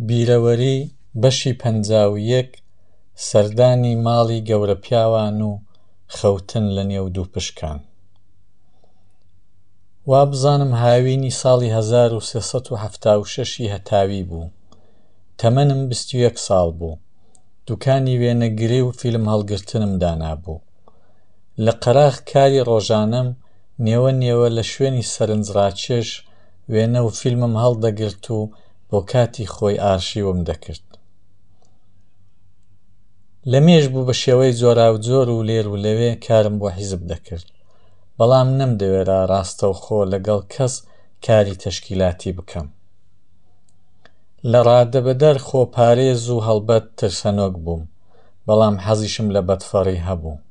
بیرەوەری بەشی پەنجا و یەک سەردانی ماڵی گەورە پیاوان و خەوتن لە نێو دوو پشکان وا بزانم هاوینی ساڵی 1976 ی هەتاوی بوو تەمەنم بیست و یەک ساڵ بوو دوکانی وێنەگری و فیلم هەڵگرتنم دانابوو لە قەراخ کاری ڕۆژانەم نێوە نێوە لە شوێنی سەرنجڕاکێش وێنە و فیلمم هەڵدەگرت و بۆ کاتی خۆی ئارشیوم دەکرد. لە مێژ بوو بە شێوەی جۆراوجۆر و لێر و لەوێ کارم بۆ حیزب دەکرد. بەڵام نەمدەوێرا ڕاستەوخۆ لەگەڵ کەس کاری تەشکیلاتی بکەم. لە ڕادەبەدەر خۆپارێز و هەڵبەت ترسەنۆک بووم. بەڵام حەزیشم لە بەدفەڕی هەبوو.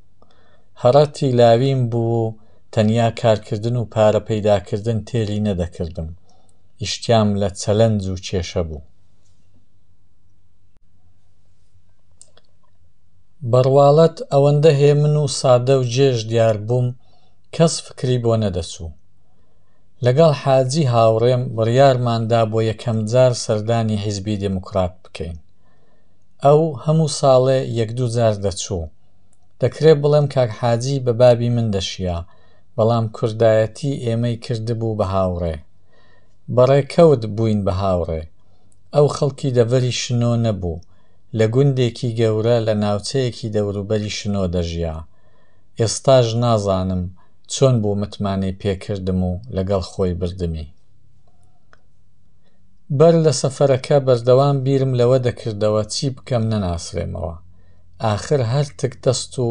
هەڕە تیلاویم بوو و تەنیا کارکردن و پارە پەیداکردن تێلی نەدەکردم. ئیشتیام لە چەلەنج و کێشە بوو. بە ڕواڵەت ئەوەندە هێمن و سادە و جێژ دیار بووم کەس فکری بۆ نەدەچوو. لەگەڵ حاجی هاوڕێم بڕیارماندا بۆ یەکەمجار سەردانی حیزبی دێموکڕات بکەین. ئەو هەموو ساڵێ یەک دوو جار دەچوو. دەکرێ بڵێم کاک حاجی بە بابی من دەشیا، بەڵام کوردایەتی ئێمەی کردبوو بە هاوڕێ. بە ڕێکەوت بووین بە هاوڕێ. ئەو خەڵکی دەڤەری شنۆ نەبوو، لە گوندێکی گەورە لە ناوچەیەکی دەوروبەری شنۆ دەژیا. ئێستاش نازانم چۆن بوو متمانەی پێ کردم و لەگەڵ خۆی بردمی. بەر لە سەفەرەکە بەردەوام بیرم لەوە دەکردەوە چی بکەم نەناسرێمەوە. ئاخر هەر تک دەست و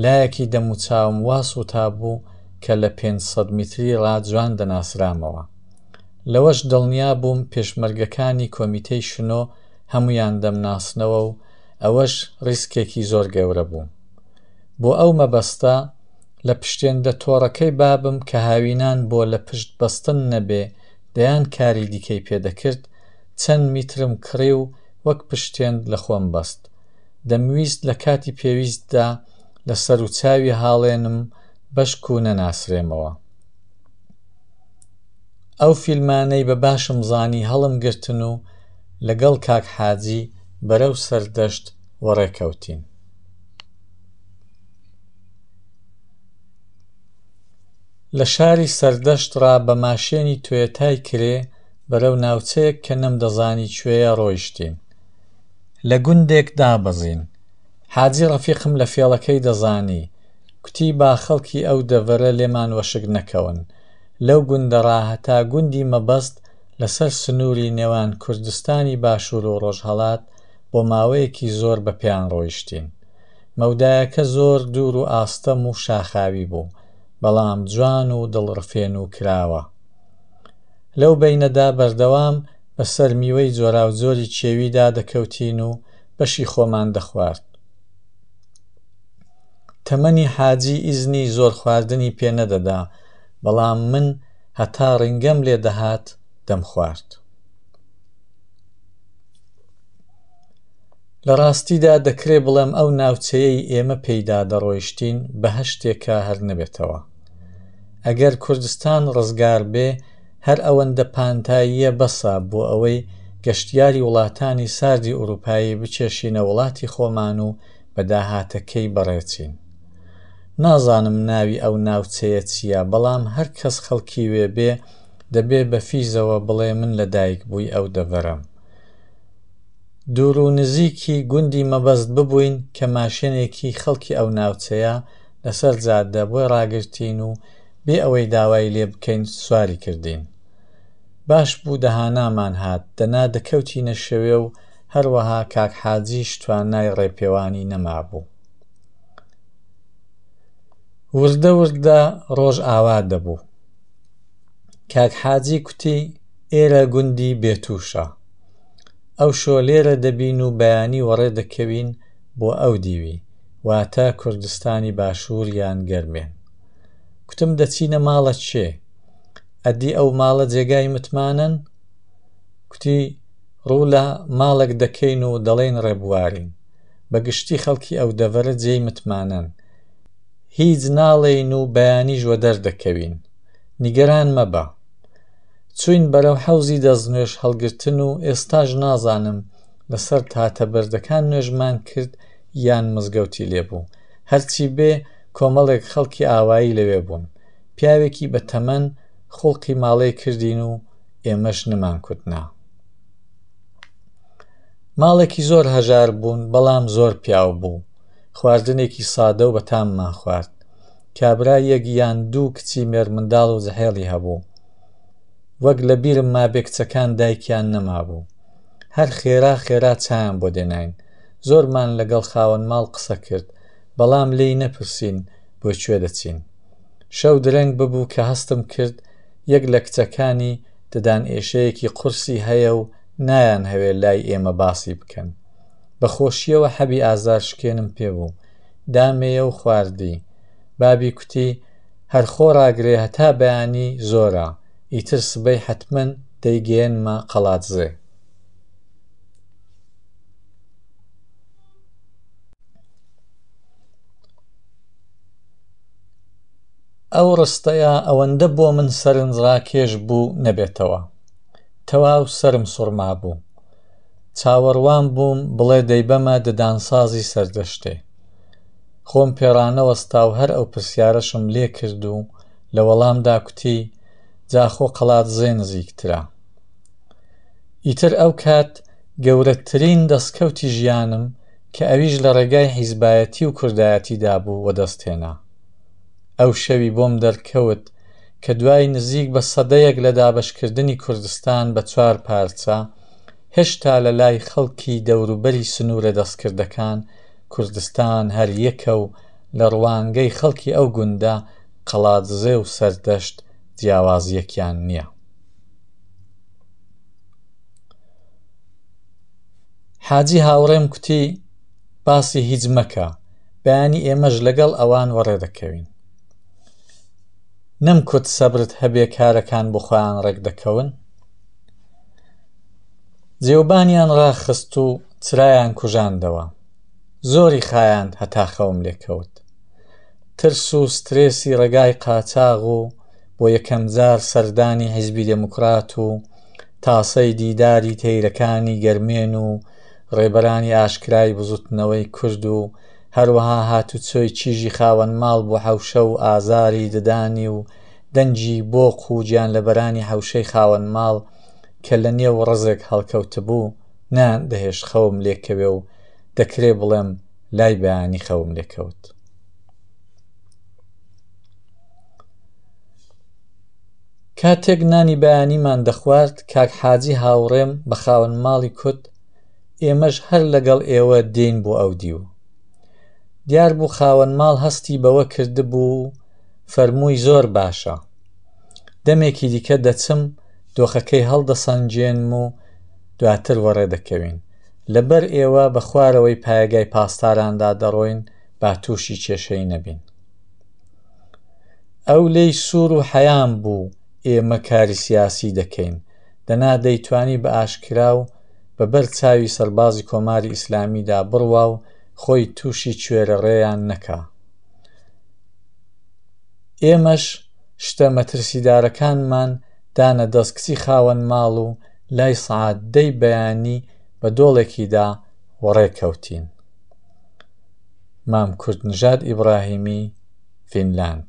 لایەکی دەموچاوم وا سووتابوو کە لە پێنج سەد میتری ڕا جوان دەناسرامەوە. لەوەش دڵنیا بووم پێشمەرگەکانی کۆمیتەی شنۆ هەموویان دەمناسنەوە و ئەوەش ڕیسکێکی زۆر گەورە بوو. بۆ ئەو مەبەستە لە پشتێندە تۆڕەکەی بابم کە هاوینان بۆ لە پشت بەستن نەبێ دەیان کاری دیکەی پێ دەکرد، چەند میترم کڕی و وەک پشتێند لە خۆم بەست. دەمویست لە کاتی پێویستدا لە سەروچاوی هاڵێنم بەشک و نەناسرێمەوە. ئەو فیلمانەی بە باشم زانی هەڵم گرتن و لەگەڵ کاک حاجی بەرەو سەردەشت وەڕێ کەوتین. لە شاری سەردەشت ڕا بە ماشێنی تۆیەتای کرێ بەرەو ناوچەیەک کە نەمدەزانی کوێیە ڕۆیشتین. لە گوندێک دابەزین. حاجی ڕەفیقم لە فێڵەکەی دەزانی، کوتی با خەڵکی ئەو دەڤەرە لێمان وەشک نەکەون. لەو گوندە ڕا هەتا گوندی مەبەست لە سەر سنووری نێوان کوردستانی باشوور و ڕۆژهەڵات بۆ ماوەیەکی زۆر بە پێیان ڕۆیشتین. مەودایەکە زۆر دوور و ئاستەم و شاخاوی بوو. بەڵام جوان و دڵڕفێنو کراوە. لەو بەینەدا بەردەوام بە سەر میوەی جۆراوجۆری کێویدا دەکەوتین و بەشی خۆمان دەخوارد. تەمەنی حاجی ئیزنی زۆر خواردنی پێ نەدەدا، بەڵام من هەتا ڕینگەم لێ دەهات دەمخوارد. لە ڕاستیدا دەکرێ بڵێم ئەو ناوچەیەی ئێمە پێیدا دەڕۆیشتین بەهەشتێکە هەر نەبێتەوە. ئەگەر کوردستان ڕزگار بێ هەر ئەوەندە پانتاییە بەسە بۆ ئەوەی گەشتیاری وڵاتانی ساردی ئورووپایی بکێشینە وڵاتی خۆمان و بە داهاتەکەی بەڕێچین. نازانم ناوی ئەو ناوچەیە چییە بەڵام هەر کەس خەڵکی وێ بێ دەبێ بە فیزەوە بڵێ من لە دایک بووی ئەو دەڤەرەم. دوور و نزیکی گوندی مەبەست ببووین کە ماشێنێکی خەڵکی ئەو ناوچەیە لەسەر جادە بۆی ڕاگرتین و بێ ئەوەی داوای لێ بکەین سواری کردین. باش بوو دەهانامان هات، دەنا دەکەوتینە شەوێ و هەروەها کاک حاجیش توانای ڕێپێوانی نەمابوو. وردە وردە ڕۆژ ئاوا دەبوو. کاک حاجی کوتی ئێرە گوندی بێتووشە. ئەوشۆ لێرە دەبین و بەیانی وەڕێ دەکەوین بۆ ئەو دیوی، واتە کوردستانی باشوور یان گەرمێن. کوتم دەچینە ماڵە کێ؟ ئەدی ئەو ماڵە جێگای متمانەن؟ کوتی ڕوو لە ماڵێک دەکەین و دەڵێین ڕێبوارین. بە گشتی خەڵکی ئەو دەڤەرە جێی متمانەن. هیچ ناڵێین و بەیانیش وەدەر دەکەوین. نیگەران مەبە. چووین بەرەو حەوزی دەستنوێژ هەڵگرتن و ئێستاش نازانم لەسەر تاتە بەردەکان نوێژمان کرد یان مزگەوتی لێ بوو. هەرچی بێ کۆمەڵێک خەڵکی ئاوایی لەوێ بوون. پیاوێکی بە تەمەن خوڵقی ماڵێ کردین و ئێمەش نمانکوتنا. ماڵێکی زۆر هەژار بوون بەڵام زۆر پیاو بوو. خواردنێکی سادە و بەتاممان خوارد. کابرا یەک یان دوو کچی مێرمنداڵ و زحێڵی هەبوو. وەک لە بیرم مابێ کچەکان دایکیان نەمابوو. هەر خێرا خێرا چایان بۆ دێناین. زۆرمان لە گەڵ خاوەن ماڵ قسە کرد، بەڵام لێی نەپرسین بۆ کوێ دەچین. شەو درەنگ ببوو کە هەستم کرد یەک لە کچەکانی ددان ئێشەیەکی قورسی هەیە و نایانهەوێ لای ئێمە باسی بکەن. بە خۆشییەوە حەبی ئازارشکێنم پێ بوو. دامێیە و خواردی. بابی کوتی، هەر خۆ ڕاگرێ هەتا بەیانی زۆرە، ئیتر سبەی حەتمەن دەیگەیەنمە قەڵادزێ. ئەو ڕستەیە ئەوەندە بۆ من سەرنجڕاکێش بوو نەبێتەوە. تەواو سەرم سوڕمابوو. چاوەڕوان بووم بڵێ دەیبەمە ددانسازی سەردەشتێ. خۆم پێ ڕانەوەستا و هەر ئەو پرسیارەشم لێ کرد و لە وەڵامدا کوتی، جا خۆ قەڵادزێ نزیکترە. ئیتر ئەو کات گەورەترین دەستکەوتی ژیانم کە ئەویش لە ڕێگای حیزبایەتی و کوردایەتیدا بوو وەدەست هێنا. ئەو شەوی بۆم دەرکەوت کە دوای نزیک بە سەدەیەک لە دابەشکردنی کوردستان بە چوار پارچە، هێشتا لە لای خەڵکی دەوروبەری سنوورە دەستکردەکان کوردستان هەر یەکە و لە ڕوانگەی خەڵکی ئەو گوندە قەڵادزێ و سەردەشت جیاوازییەکیان نییە. حاجی هاوڕێم کوتی، باسی هیچ مەکە، بەیانی ئێمەش لەگەڵ ئەوان وەڕێ دەکەوین. نەم کوت سەبرت هەبێ کارەکان بۆ خۆیان ڕێک دەکەون جێوبانیان ڕاخست و چرایان کوژاندەوە زۆری خایاند هەتا خەوم لێکەوت ترس و سترێسی ڕێگای قاچاغ و بۆ یەکەم جار سەردانی حیزبی دێموکرات و تاسەی دیداری تەیرەکانی گەرمێن و ڕێبەرانی ئاشکرای بزوتنەوەی کورد و هەروەها هاتوچۆی چیژی خاوەن ماڵ بۆ حەوشە و ئازاری ددانی و دەنگی بۆق و گیانلەبەرانی حەوشەی خاوەن ماڵ کە لە نێو ڕەزێک هەڵکەوتبوو، نەیان دەهێشت خەوم لێکەوێ و دەکرێ بڵێم لای بەیانی خەوم لێکەوت. کاتێک نانی بەیانیمان دەخوارد، کاک حاجی هاوڕێم بە خاوەن ماڵی کوت، ئێمەش هەر لەگەڵ ئێوە دێین بۆ ئەو دیو دیار بوو خاوەن ماڵ هەستی بەوە کردبوو فەرمووی زۆر باشە دەمێکی دیکە دەچم دۆخەکەی هەڵدەسەنجێنم و دواتر وەڕێ دەکەوین لەبەر ئێوە بە خوارەوەی پایگای پاسداراندا دەڕۆین با تووشی کێشەی نەبین ئەو لی سوور و حەیان بوو ئێمە کاری سیاسی دەکەین دەنا دەیتوانی بە ئاشکرا و بە بەر چاوی سەربازی کۆماری ئیسلامیدا بڕوا و خۆی تووشی کوێرەڕێیان نەکا. ئێمەش شتە مەترسیدارەکانمان دانە دەست کچی خاوەن ماڵ و لای سەعات دەی بەیانی بە دۆڵێکیدا وەڕێ کەوتین. مام کوردنژاد ئیبراهیمی، فینلاند.